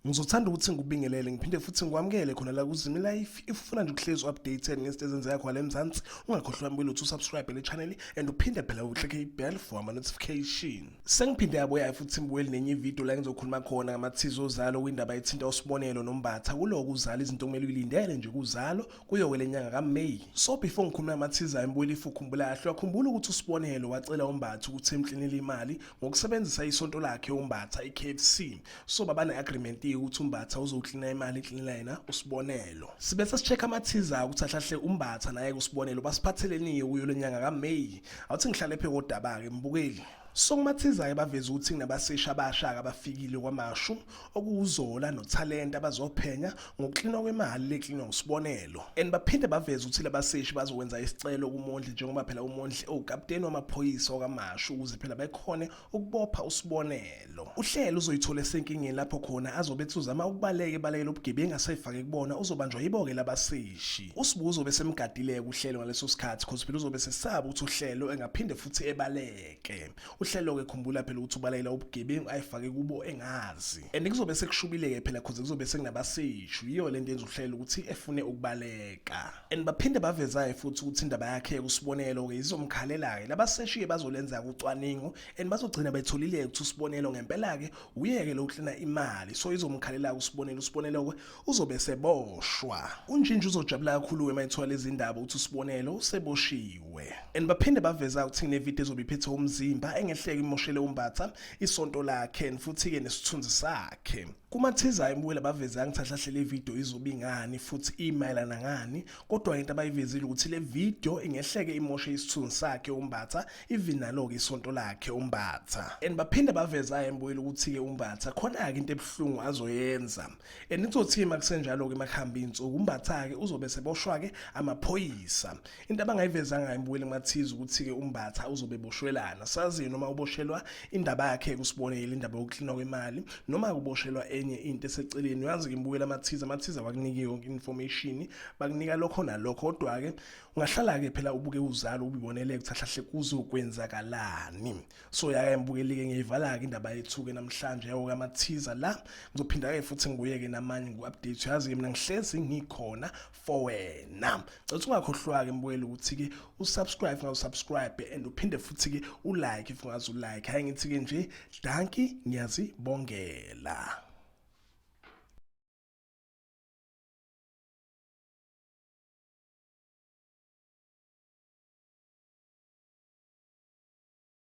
Ngizothanda ukuthi ngikubingelele ngiphinde futhi ngikwamukele khona la kuZimi Life. If ufuna nje ukuhlezi updated ngezinto ezenzeka khona eMzansi, ungakhohlwa wami ukuthi usubscribe le channel and uphinde phela uklike ibell for ama notification. Sengiphinde yabuya futhi ngibuyele nenye video la ngizokhuluma khona ngamathizo ozalo kwindaba ethinta usibonelo nombatha kuloku uzala izinto kumele uyilindele nje kuzalo kuyowela inyanga kaMay. So before ngikhuluma amathiza embuyela ifukhumbula yahlwa khumbula ukuthi usibonelo wacela umbatha ukuthi emklinele imali ngokusebenzisa isonto lakhe umbatha iKFC. So baba neagreement ukuthi umbatha uzoklina imali iklinela yena usibonelo. Sibe sesicheck amathiza ukuthi ahlahle umbatha naye kusibonelo basiphatheleniyo kuyo lenyanga kaMay. Awuthi ngihlale phe kodaba ke mbukeli. Sokumathizayo baveza ukuthi kunabasisha abasha abafikile kwamashu okuwuzola nothalente abazophenya ngokuklinwa kwemali leklinwa ngusibonelo and baphinde baveze ukuthi labaseshi bazokwenza isicelo kumondli njengoba phela umondli owukapteni wamaphoyisa wakamashu ukuze phela bekhone ukubopha usibonelo uhlelo uzoyithola esenkingeni lapho khona azobe ethuzama ukubaleka ebalekela ubugebengu asayifake kubona uzobanjwa yiboke labaseshi usibuzo uzobe semgadileke uhlelo ngaleso sikhathi cause phela uzobe sesaba ukuthi uhlelo engaphinde futhi ebaleke uhlelo-ke khumbula phela ukuthi ubalayela ubugebengu ayifake kubo engazi and kuzobe sekushubile-ke phela khoze kuzobe sekunabaseshu yiyo le nto yenza uhlelo ukuthi efune ukubaleka and baphinde bavezayo futhi ukuthi indaba yakhe usibonelo-ke izomkhalela-ke labaseshi-ke bazolenza-ke ucwaningo and bazogcina betholile-ke ukuthi usibonelo ngempela-ke uyeke lo uhlena imali so izomkhalela-ke usibonelo usibonelo-ke uzobe seboshwa unjinji uzojabula kakhulu wema ethola izindaba ukuthi usibonelo useboshiwe and baphinde baveza ukuthi nevideo ezobe iphethe umzimba engehleke imoshele umbatha isonto lakhe and futhi-ke nesithunzi sakhe kumathizayo imbuyela baveze angithahlahle le video izobe ingani futhi imayelana ngani kodwa into abayivezile ukuthi le video ingehleke imoshe isithunzi sakhe umbatha even nalo-ke isonto lakhe umbatha and baphinde baveza imbuyela ukuthi-ke umbatha khona-ke into ebuhlungu azoyenza And itsothi makusenjalo ke makuhamba insuku umbatha ke uzobe seboshwa ke amaphoyisa. Into abangayivezanga embuwele mathize ukuthi ke umbatha uzobe boshwelana. Sazi noma uboshelwa indaba yakhe kusibone indaba yokuhlinwa kwemali noma kuboshelwa enye into eseceleni. Uyazi ke imbuwele amathize amathize wakunike yonke information bakunika lokho nalokho kodwa ke ungahlala ke phela ubuke uzalo ubibonele ukuthi ahlahle kuzokwenzakalani. so yake ngibukelike ngiyivala-ke indaba yethu-ke namhlanje yawo kamathiza la ngizophinda-ke futhi ngibuye-ke namanye ngu-update uyazi-ke mina ngihlezi ngikhona for wena cetha ungakhohlwa-ke mbukeli ukuthi-ke usubscribe ngawusubscribe and uphinde futhi-ke ulike if ungazi ulike hhayi ngithi-ke nje danki ngiyazibongela